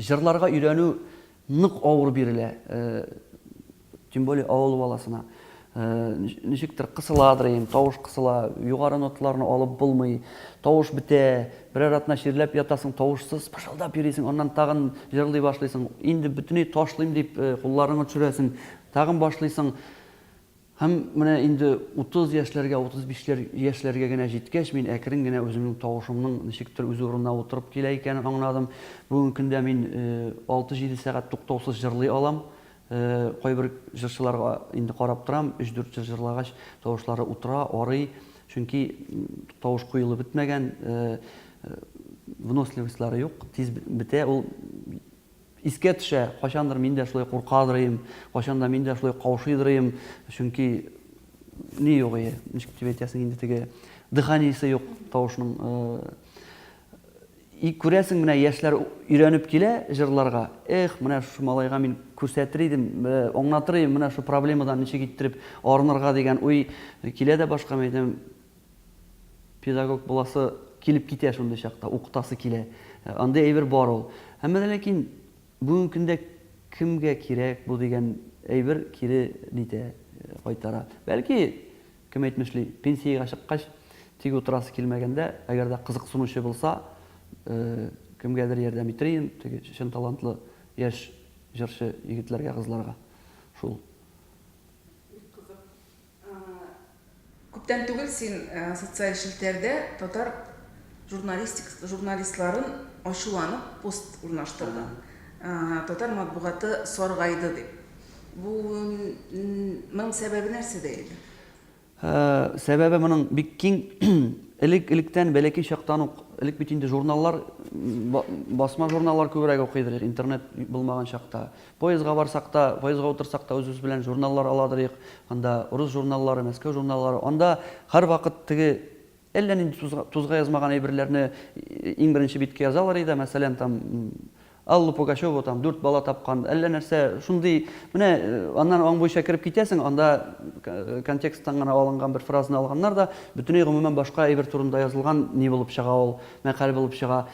Җырларга өйрәнү нык авыр бирелә, тем более авыл баласына. Ничектер кысыладыр инде, тавыш кысыла, югары ноталарны алып булмый, тавыш бетә, берәр атна чирләп ятасың, тавышсыз пышылдап йөрисең, аннан тагын җырлый башлыйсың, инде бөтенләй ташлыйм дип кулларыңны төшерәсең, тагын башлыйсың. Һәм менә инде утыз яшьләргә, утыз бишләр яшьләргә генә җиткәч, мин әкрен генә үземнең тавышымның ничектер үз урынына утырып килә икәнен аңладым. Бүгенге көндә мин алты-җиде сәгать туктаусыз җырлый алам. Кайбер җырчыларга инде карап торам, өч-дүрт җыр җырлагач, тавышлары утыра, арый, чөнки тавыш коелып бетмәгән, выносливостьлары юк, тиз бетә ул. Искә төшә, кайчандыр мин дә шулай куркадыр идем, кайчан да мин дә шулай каушыйдыр идем, чөнки ни юк ие, ничек дип әйтәсең инде теге дыханиесе юк тавышның. И күрәсең, менә яшьләр өйрәнеп килә җырларга, эх, менә шушы малайга мин күрсәтер идем, аңлатыр идем, менә шул проблемадан ничек иттереп арынырга дигән уй килә дә башка, мин әйтәм, Педагог буласы килеп китә шундый чакта, укытасы килә. Андый әйбер бар ул. Әмма дә ләкин бүгенге көндә кемгә кирәк бу дигән әйбер кире нитә, кайтара. Бәлки, кем әйтмешли, пенсиягә чыккач, тик утырасы килмәгәндә, әгәр дә кызыксынучы булса, кемгәдер ярдәм итер идем, теге чын талантлы яшь җырчы егетләргә, кызларга. Шул. Бик кызык. Күптән түгел син социаль челтәрдә татар журналистик журналистларын ачуланып пост урнаштырдың. Татар матбугаты саргайды дип. Бу моның сәбәбе нәрсәдә иде? Сәбәбе моның бик киң. Элек электән бәләкәй чактан ук, элек бит инде журналлар басма журналлар күбрәк укыйдыр интернет булмаган чакта. Поездга барсак та, поездга утырсак та үзебез белән журналлар аладырыйк, анда урыс журналлары, Мәскәү журналлары, анда һәрвакыт теге әллә нинди тузга, тузга язмаган әйберләрне иң беренче биткә язалар иде, мәсәлән, там Алла Пугачева там дүрт бала тапкан, әллә нәрсә, шундый, менә аннан аң буенча кереп китәсең, анда контексттан гына алынган бер фразаны алганнар да, бөтенләй гомумән башка әйбер турында язылган ни булып чыга ул, мәкаль булып чыга.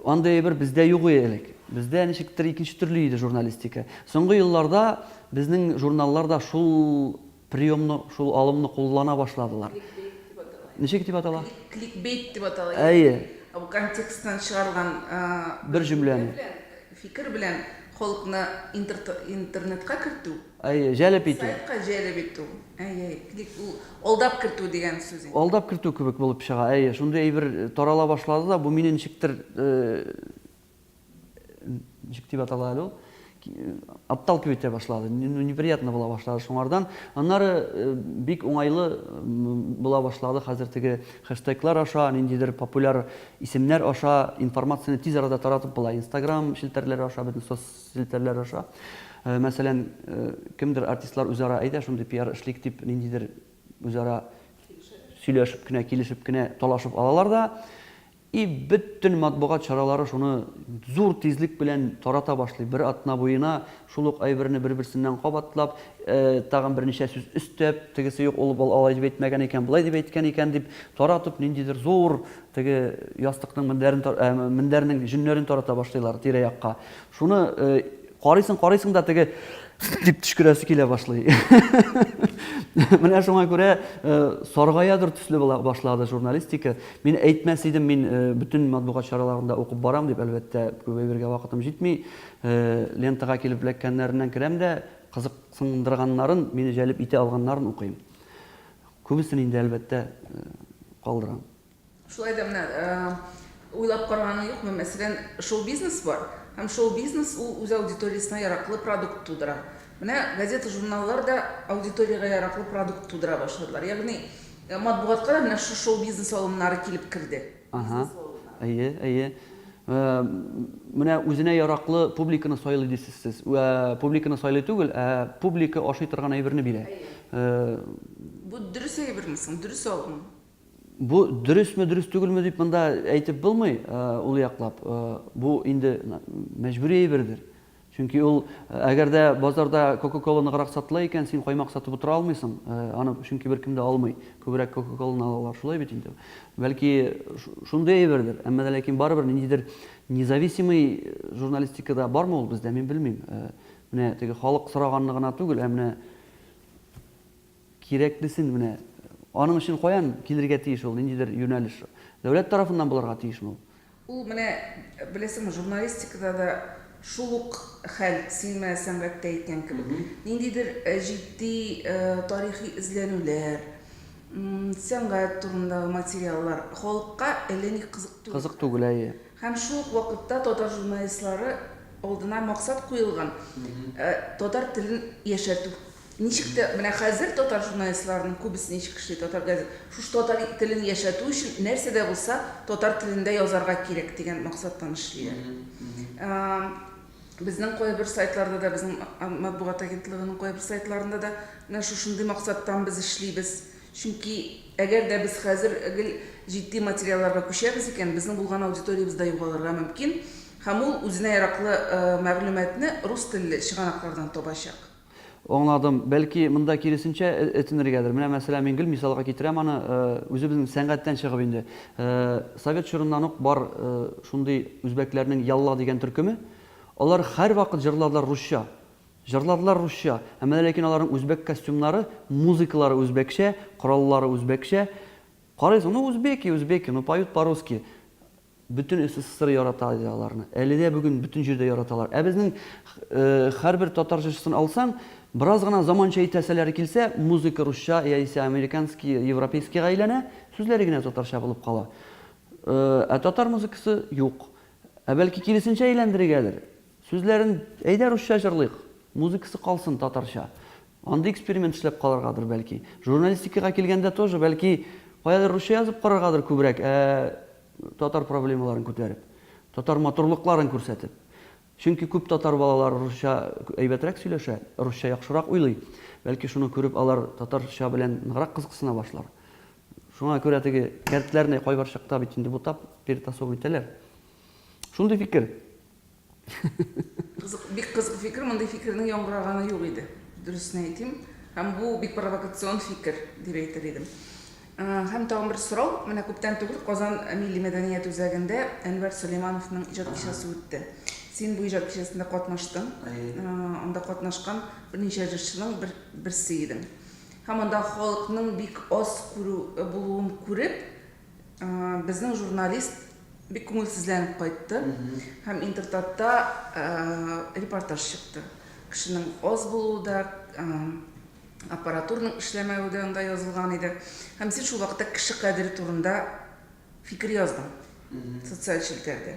Андый әйбер бездә юк иде элек. Бездә ничектер икенче төрле иде журналистика. Соңгы елларда безнең журналлар да шул приемны, шул алымны куллана башладылар. Ничек дип атала? Кликбейт дип атала. Әйе. Бу контексттан чыгарылган бер җөмләне, фикер белән халыкны интернетка кертү. Әйе, җәлеп итү. Сайтка җәлеп итү. Әйе, клик ул алдап кертү дигән сүз инде. Алдап кертү кебек булып чыга. Әйе, шундый әйбер тарала башлады да, бу мине ничектер, ничек дип атала әле ул, отталкивать итә башлады, ну, неприятно була башлады шуңардан. Аннары бик уңайлы була башлады хәзер теге хэштеглар аша, ниндидер популяр исемнәр аша информацияне тиз арада таратып була. Инстаграм челтәрләре аша, бөтен соц. Селтәрләр аша. Мәсәлән, кемдер артистлар үзара әйдә шундый пиар эшлик дип ниндидер үзара сөйләшеп кенә, килешеп кенә талашып алалар да, и бөтен матбугат чаралары шуны зур тизлек белән тарата башлый. Бер атна буена шул ук әйберне бер-берсеннән кабатлап, тагын берничә сүз өстәп, тегесе юк, ул алай дип әйтмәгән икән, болай дип әйткән икән дип таратып, ниндидер зур Теге ястыкның мендәрен, ә, мендәрнең җөннәрен тарата башлыйлар тирә-якка. Шуны э, карыйсың, карыйсың да теге дип төшкерәсе килә башлый. Менә шуңа күрә э, саргаядыр төсле була башлады журналистика. Мин әйтмәс идем, мин э, бөтен матбугат чараларында укып барам дип, әлбәттә, күп әйбергә вакытым җитми. Э, лентага килеп эләккәннәреннән керәм дә, кызыксындырганнарын, мине җәлеп итә алганнарын укыйм. Күбесен инде, әлбәттә, калдырам. Шулай да менә уйлап караганы юкмы, мәсәлән, шоу-бизнес бар, һәм шоу-бизнес ул үз аудиториясенә яраклы продукт тудыра. Менә газета-журналлар да аудиториягә яраклы продукт тудыра башладылар. Ягъни матбугатка да менә шушы шоу-бизнес алымнары килеп керде. Аһа. Әйе, әйе. Менә үзенә яраклы публиканы сайлый дисез сез. Үә публиканы сайлый түгел, ә публика ашый торган әйберне бирә. Әйе. Бу дөрес әйберме соң? Дөрес алым? Бу дөресме, дөрес түгелме дип монда әйтеп булмый, ул яклап. Бу инде мәҗбүри әйбердер. Чөнки ул, әгәр дә базарда кока-кола ныграк сатыла икән, син каймак сатып утыра алмыйсың, аны чөнки беркем дә алмый, күбрәк кока-коланы алалар, шулай бит инде. Бәлки, шундый әйбердер, әмма дә ләкин барыбер ниндидер независимый журналистикада бармы ул бездә, мин белмим. Менә теге халык сораганны гына түгел, ә менә кирәклесен, менә аның өчен каян килергә тиеш ул, ниндидер юнәлеш? Дәүләт тарафыннан булырга тиешме ул? Ул менә, беләсеңме, журналистикада да шул ук хәл, син менә сәнгатьтә әйткән кебек. Ниндидер җитди тарихи эзләнүләр, сәнгать турындагы материаллар халыкка әллә ни кызык түгел. Кызык түгел, әйе. Һәм шул ук вакытта татар журналистлары алдына максат куелган, татар телен яшәртү Ничек тә менә хәзер татар журналистларының күбесе ничек эшли, татар газет, шушы татар телен яшәтү өчен нәрсә дә булса татар телендә язарга кирәк дигән максаттан эшлиләр. Безнең кайбер сайтларда да, безнең матбугат агентлыгының кайбер сайтларында да менә шушындый максаттан без эшлибез. Чөнки әгәр дә без хәзер гел җитди материалларга күчәбез икән, безнең булган аудиториябез дә югалырга мөмкин һәм ул үзенә яраклы мәгълүматны рус телле чыганаклардан табачак. Аңладым. Бәлки, монда киресенчә этенергәдер. Менә, мәсәлән, мин гел мисалга китерәм аны, үзебезнең сәнгатьтән чыгып инде. Совет чорыннан ук бар шундый үзбәкләрнең Ялла дигән төркеме. Алар һәрвакыт җырладылар русча. Җырладылар русча. Ә менә ләкин аларның үзбәк костюмнары, музыкалары үзбәкчә, кораллары үзбәкчә. Карыйсың, ну, узбеки, узбеки, ну, поют по-русски. Бөтен СССР ярата иде аларны. Әле дә бүген бөтен җирдә яраталар. Ә безнең һәрбер татар җырчысын алсаң, бераз гына заманча итәселәре килсә, музыка русча яисә американский, европейскийга әйләнә, сүзләре генә татарча булып кала. Ә татар музыкасы юк. Ә бәлки киресенчә әйләндерергәдер? Сүзләрен, әйдә русча җырлыйк, музыкасы калсын татарча. Андый эксперимент эшләп караргадыр, бәлки. Журналистикага килгәндә тоже, бәлки, каядыр русча язып караргадыр күбрәк, ә татар проблемаларын күтәреп, татар матурлыкларын күрсәтеп. Чөнки күп татар балалары русча әйбәтрәк сөйләшә, русча яхшырак уйлый. Бәлки шуны күреп алар татарча белән ныграк кызыксына башлар. Шуңа күрә теге кәртләрне кайбер чакта бит инде бутап, перетасовывать итәләр. Шундый фикер. Кызык, бик кызык фикер, мондый фикернең яңгыраганы юк иде, дөресен әйтим. Һәм бу бик провокацион фикер, дип әйтер идем. Һәм тагын бер сорау, менә күптән түгел Казан милли мәдәният үзәгендә Әнвәр Сөләймановның иҗат кичәсе үтте. Син бу иҗат кичәсендә катнаштың, анда катнашкан берничә җырчының бер, берсе идең. Һәм анда халыкның бик аз күрү, булуын күреп, Безнең журналист бик күңелсезләнеп кайтты һәм Интертатта репортаж чыкты. Кешенең аз булуы да, аппаратурның эшләмәве дә анда язылган иде. Һәм син шул вакытта кеше кадере турында фикер яздың социаль челтәрдә.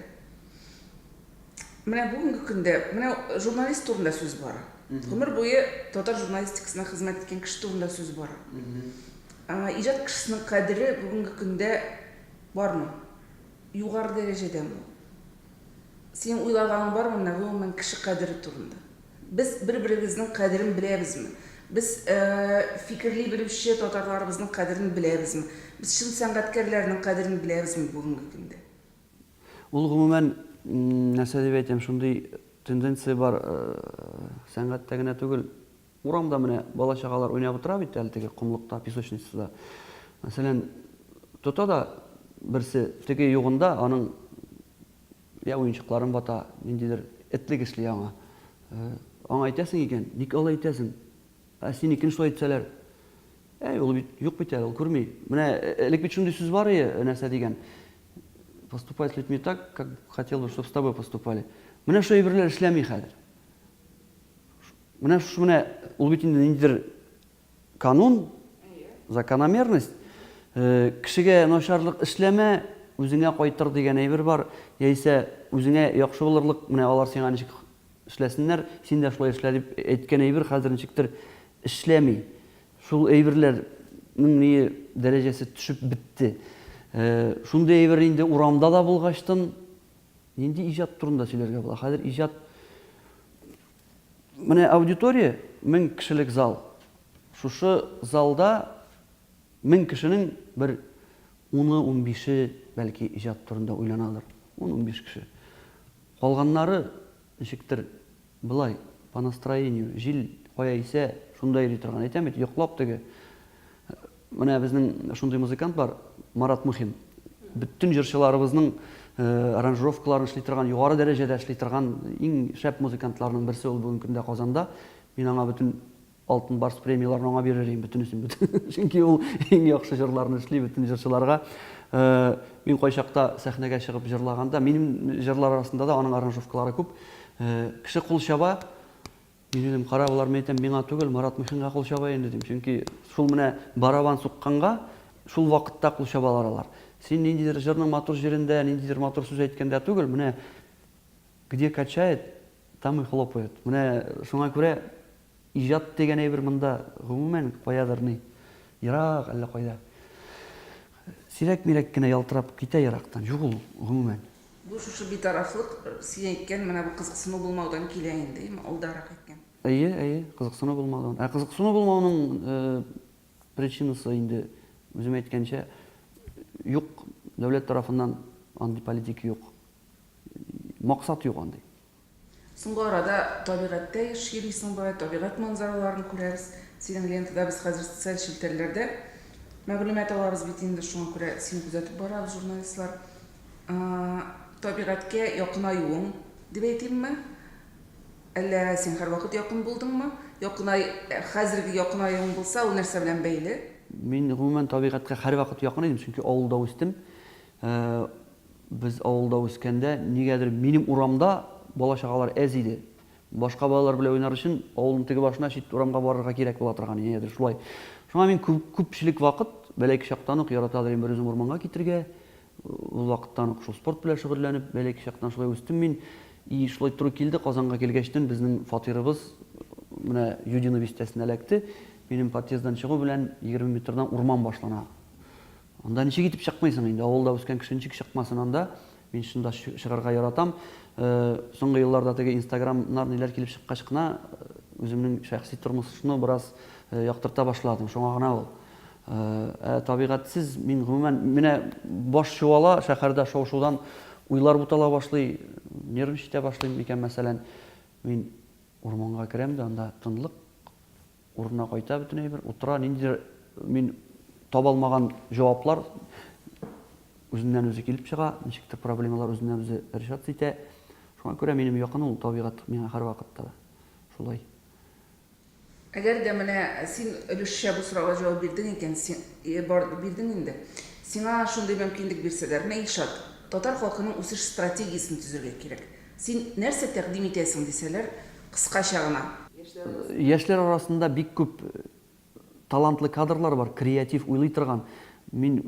Менә бүгенге көндә, менә журналист турында сүз бара. Гомер буе татар журналистикасына хезмәт иткән кеше турында сүз бара. Иҗат кешесенең кадере бүгенге көндә бармы? Югары дәрәҗәдәме? Синең уйлаганың бармы менә гомумән кеше кадере турында? Без бер-беребезнең кадерен беләбезме? Без фикерли белүче татарларыбызның кадерен беләбезме? Без чын сәнгатькәрләрнең кадерен беләбезме бүгенге көндә? Ул гомумән, нәрсә дип әйтим, шундый тенденция бар, сәнгатьтә генә түгел, урамда менә бала-чагалар уйнап утыра бит әле теге комлыкта, песочницада. Мәсәлән, тота да берсе теге югында аның я уенчыкларын вата, ниндидер этлек эшли аңа. Аңа әйтәсең икән, ник алай итәсең? Ә синекен шулай итсәләр? Әй, ул бит юк бит әле, ул күрми. Менә элек бит шундый сүз бар ие, нәрсә дигән? Поступай с людьми так, как хотел бы, чтобы с тобой поступали. Менә шул әйберләр эшләми хәзер. Менә шушы менә ул бит инде ниндидер канун, закономерность. Э, кешегә начарлык эшләмә, үзеңә кайтыр дигән әйбер бар. Яисә үзеңә яхшы булырлык, менә алар сиңа ничек Эшләсеннәр, син дә шулай эшлә, дип әйткән әйбер хәзер ничектер эшләми. Шул әйберләрнең ни дәрәҗәсе төшеп бетте. Шундый әйбер инде урамда да булгачтын, нинди иҗат турында сөйләргә була? Хәзер иҗат Менә аудитория 1000 кешелек зал. Шушы залда 1000 кешенең бер 10-15-е бәлки иҗат турында уйланадыр. 10-15 кеше. Калганнары, ничектер, болай, по настроению, җил кая исә, шунда йөри торган. Әйтәм бит, йоклап теге. Менә безнең шундый музыкант бар, Марат Мухин. Бөтен җырчыларыбызның аранжировкаларын эшли торган, югары дәрәҗәдә эшли торган иң шәп музыкантларның берсе ул бүгенге көндә Казанда. Мин аңа бөтен Алтын барс премияләрен аңа бирерим бөтенесен бөтен. Чөнки ул иң яхшы җырларны эшли бөтен җырчыларга. Мин кайчакта сәхнәгә чыгып җырлаганда, минем җырлар арасында да аның аранжировкалары күп. Кеше кул чаба, мин дидем, кара болар, мин әйтәм, миңа түгел, Марат Мухинга кул чаба инде дим. Чөнки шул менә барабан сукканга, шул вакытта кул чабалар алар. Син ниндидер җырның матур җирендә, ниндидер матур сүз әйткәндә түгел, менә где качает, Там и хлопают. Менә шуңа күрә иҗат дигән әйбер монда, гомумән, каядыр ни, ерак әллә кайда. Сирәк-мирәк кенә ялтырап китә ерактан, юк ул, гомумән. Бу шушы битарафлык, син әйткән менә бу кызыксыну булмаудан килә инде, яме алдарак әйткән. Әйе, әйе, кызыксыну булмаудан. Ә кызыксыну булмауның причинасы инде, үзем әйткәнчә, юк, дәүләт тарафыннан андый политика юк. Максат юк андый. Соңгы арада табигатьтә еш йөрисең болай, табигать манзараларын күрәбез. Синең лентада без хәзер социаль челтәрләрдә мәгълүмат алабыз бит инде, шуңа күрә сине күзәтеп барабыз журналистлар. Табигатькә якынаюың дип әйтимме, әллә син һәрвакыт якын булдыңмы? Якынай, хәзерге якынаюың булса, ул нәрсә белән бәйле? Мин гомумән табигатькә һәрвакыт якын идем, чөнки авылда үстем. Ә без авылда үскәндә, нигәдер минем урамда бала-чагалар әз иде. Башка балалар белән уйнар өчен авылның теге башына, чит урамга барырга кирәк була торган иде, нигәдер шулай. Шуңа мин күпчелек вакыт, бәләки чактан ук, яратадыр идем берүзем урманга китергә. Ул вакыттан ук шул спорт белән шөгыльләнеп, бәләки чактан шулай үстем мин. И шулай туры килде, Казанга килгәчтен безнең фатирыбыз менә Юдино бистәсенә эләкте. Минем подъезддан чыгу белән егерме метрдан урман башлана. Анда ничек итеп чыкмыйсың инде, авылда үскән кеше ничек чыкмасын анда, мин шунда чыгарга яратам. Соңгы елларда теге инстаграмнар ниләр килеп чыккач кына үземнең шәхси тормышны бераз яктырта башладым, шуңа гына ул. Ә табигатьсез мин гомумән, менә баш чуала, шәһәрдә шау-шудан уйлар бутала башлый, нервничать итә башлыйм микән мәсәлән. Мин урманга керәм дә, анда тынлык. Урынына кайта бөтен әйбер, утыра, ниндидер мин таба алмаган җаваплар үзеннән-үзе килеп чыга, ничектер проблемалар үзеннән-үзе решаться итә. Шуңа күрә минем якын ул табигать миңа һәрвакытта да. Шулай. Әгәр дә менә син өлешчә бу сорауга җавап бирдең икән, син, э, бар, бирдең инде. Сиңа шундый мөмкинлек бирсәләр, менә, Илшат, татар халкының үсеш стратегиясен төзергә кирәк. Син нәрсә тәкъдим итәсең? дисәләр, кыскача гына. Яшьләр арасында бик күп талантлы кадрлар бар, креатив, уйлый торган. Мин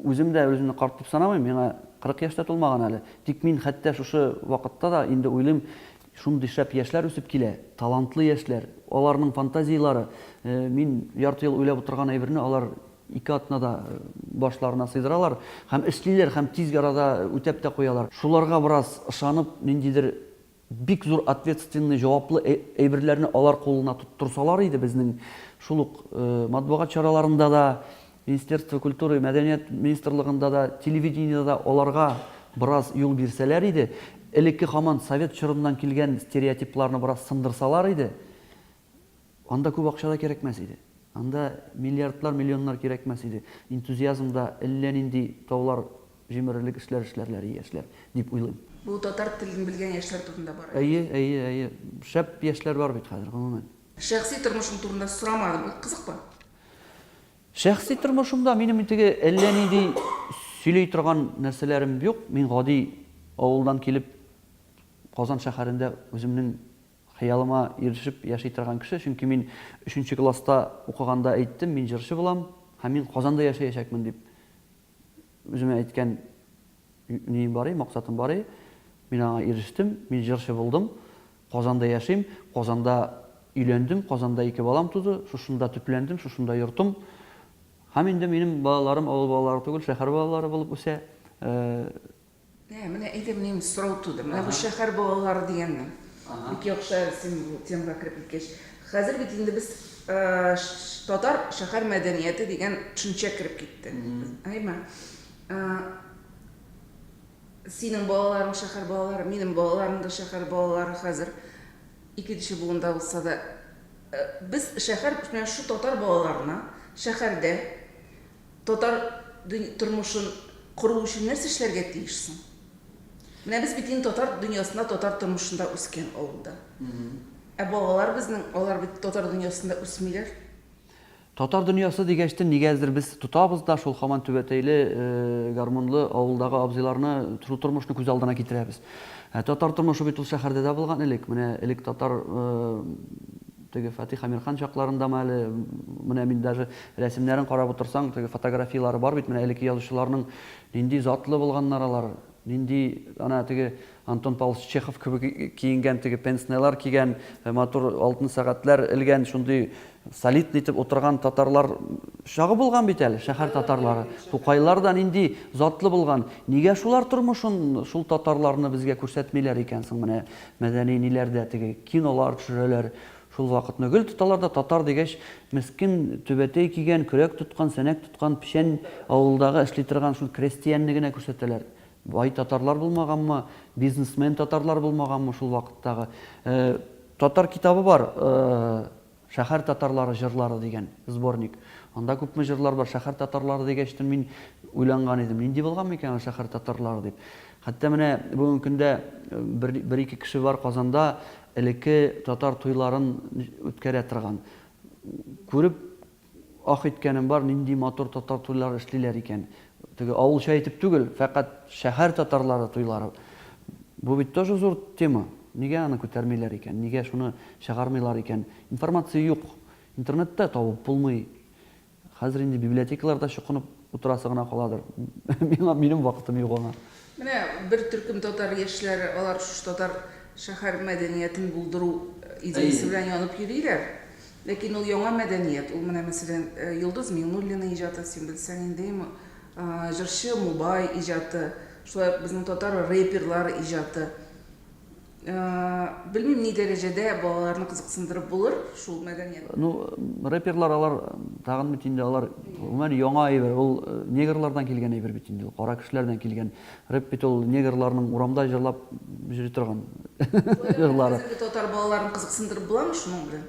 үзем дә үземне карт дип санамыйм, миңа 40 яшь тә тулмаган әле. Тик мин хәтта шушы вакытта да инде уйлыйм, шундый шәп яшьләр үсеп килә, талантлы яшьләр, аларның фантазияләре, мин ярты ел уйлап утырган әйберне алар Ике атна да башларына сыйдыралар һәм эшлиләр һәм тиз арада үтәп тә куялар. Шуларга бераз ышанып, ниндидер бик зур ответственный, җаваплы әйберләрне алар кулына тоттырсалар иде, безнең шул ук матбугат чараларында да, Министерство культуры, мәдәният министрлыгында да, телевидениедә дә аларга бераз юл бирсәләр иде, элекке һаман совет чорыннан килгән стереотипларны бераз сындырсалар иде. Анда күп акча да кирәкмәс иде. Анда миллиардлар, миллионнар кирәкмәс иде. Энтузиазмда әллә нинди таулар җимерерлек эшләр эшләрләр яшьләр, дип уйлыйм. Бу татар телен белгән яшьләр турында бара. Әйе, әйе, әйе. Шәп яшьләр бар бит хәзер, гомумән. Шәхси тормышың турында сорамадым, ул кызыкмы? Шәхси тормышымда минем теге әллә нинди сөйли торган нәрсәләрем юк. Мин гади авылдан килеп, Казан шәһәрендә үземнең Хыялыма ирешеп яши торган кеше, чөнки мин өченче класста укыганда әйттем, мин җырчы булам һәм мин Казанда яшәячәкмен дип үземә әйткән нием бар иде, максатым бар иде. Мин аңа ирештем, мин җырчы булдым. Казанда яшим, Казанда өйләндем, Казанда ике балам туды, шушында төпләндем, шушында йортым. Һәм инде минем балаларым авыл балалары түгел, шәһәр балалары булып үсә. Э, Ә, менә әйдә, минем сорау туды. Менә бу шәһәр балалары дигәннең. Бик яхшы син бу темага кереп киткәч. Хәзер бит инде без татар шәһәр мәдәнияте дигән төшенчә кереп китте. Әйме? Синең балаларың шәһәр балалары, минем балаларым да шәһәр балалары хәзер ике кеше буында булса да без шәһәр, менә шу татар балаларына шәһәрдә Татар тормышын кору өчен нәрсә эшләргә тиеш соң? Менә без бит инде татар дөньясында, татар тормышында үскән авылда. Ә балалар безнең, алар бит татар дөньясында үсмиләр. Татар дөньясы дигәчтен, нигәдер без тотабыз да шул хаман түбәтәйле, гармунлы авылдагы абзыйларны, шул тормышны күз алдына китерәбез. Ә татар тормышы бит ул шәһәрдә дә булган элек. Менә элек татар Теге Фатих Әмирхан чакларындамы әле, менә мин даже рәсемнәрен карап утырсаң, теге фотографияләре бар бит, менә элекке язучыларның нинди затлы булганнар алар, нинди ана теге Антон Павлович Чехов кебек киенгән, теге пенснелар кигән, матур алтын сәгатьләр элгән, шундый солидный итеп утырган татарлар чагы булган бит әле, шәһәр татарлары. Тукайлар да нинди затлы булган. Нигә шулар тормышын, шул татарларны безгә күрсәтмиләр икән соң менә? Мәдәни ниләр дә теге, кинолар төшерәләр, шул вакытны гел тоталар да, татар дигәч, мескен түбәтәй кигән, көрәк тоткан, сәнәк тоткан, печән авылдагы эшли торган шул крәстиәнне генә күрсәтәләр. Бай татарлар булмаганмы, бизнесмен татарлар булмаганмы шул вакыттагы. Татар китабы бар, Шәһәр татарлары җырлары дигән сборник. Анда күпме җырлар бар. Шәһәр татарлары дигәч тә мин уйланган идем, нинди булган микән ул шәһәр татарлары дип. Хәтта менә бүгенге көндә бер, бер-ике кеше бар Казанда элекке татар туйларын үткәрә торган. Күреп ах иткәнем бар, нинди матур татар туйлары эшлиләр икән. Теге авылча итеп түгел, фәкать шәһәр татарлары туйлары. Бу бит тоже зур тема. Нигә аны күтәрмиләр икән? Нигә шуны чыгармыйлар икән? Информация юк. Интернетта табып булмый. Хәзер инде библиотекаларда чукынып утырасы гына каладыр. Миңа минем вакытым юк аңа. Менә бер төркем татар яшьләре, алар шушы татар шәһәр мәдәниятен булдыру идеясе белән янып йөриләр. Ләкин ул яңа мәдәният, ул менә мәсәлән Йолдыз Миңнуллина иҗаты, син белсәң инде, җырчы Мубай иҗаты, шулай ук безнең татар рэперлары иҗаты. Белмим ни дәрәҗәдә балаларны кызыксындырып булыр шул мәдәният. Ну, рэперлар алар тагын бит инде алар гомумән яңа әйбер, ул негрлардан килгән әйбер бит инде, ул кара кешеләрдән килгән. Рэп бит ул негрларның урамда җырлап йөри торган җырлары. Хәзерге татар балаларын кызыксындырып буламы шуның белән?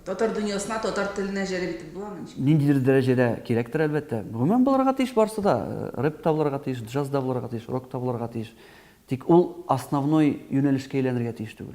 Татар дөньясына, татар теленә җәлеп итеп буламы? Ниндидер дәрәҗәдә кирәктер, әлбәттә. Гомумән булырга тиеш барысы да. Рэп та булырга тиеш, джаз да булырга тиеш, рок та булырга тиеш. Тик ул основной юнәлешкә әйләнергә тиеш түгел.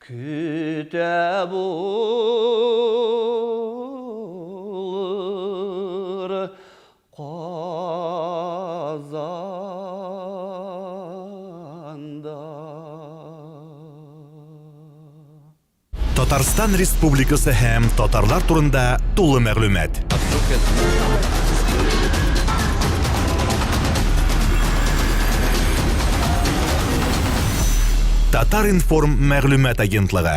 Көтә булыр Казанда. Татарстан Республикасы һәм татарлар турында тулы мәгълүмат. Татар-информ мәгълүмат агентлыгы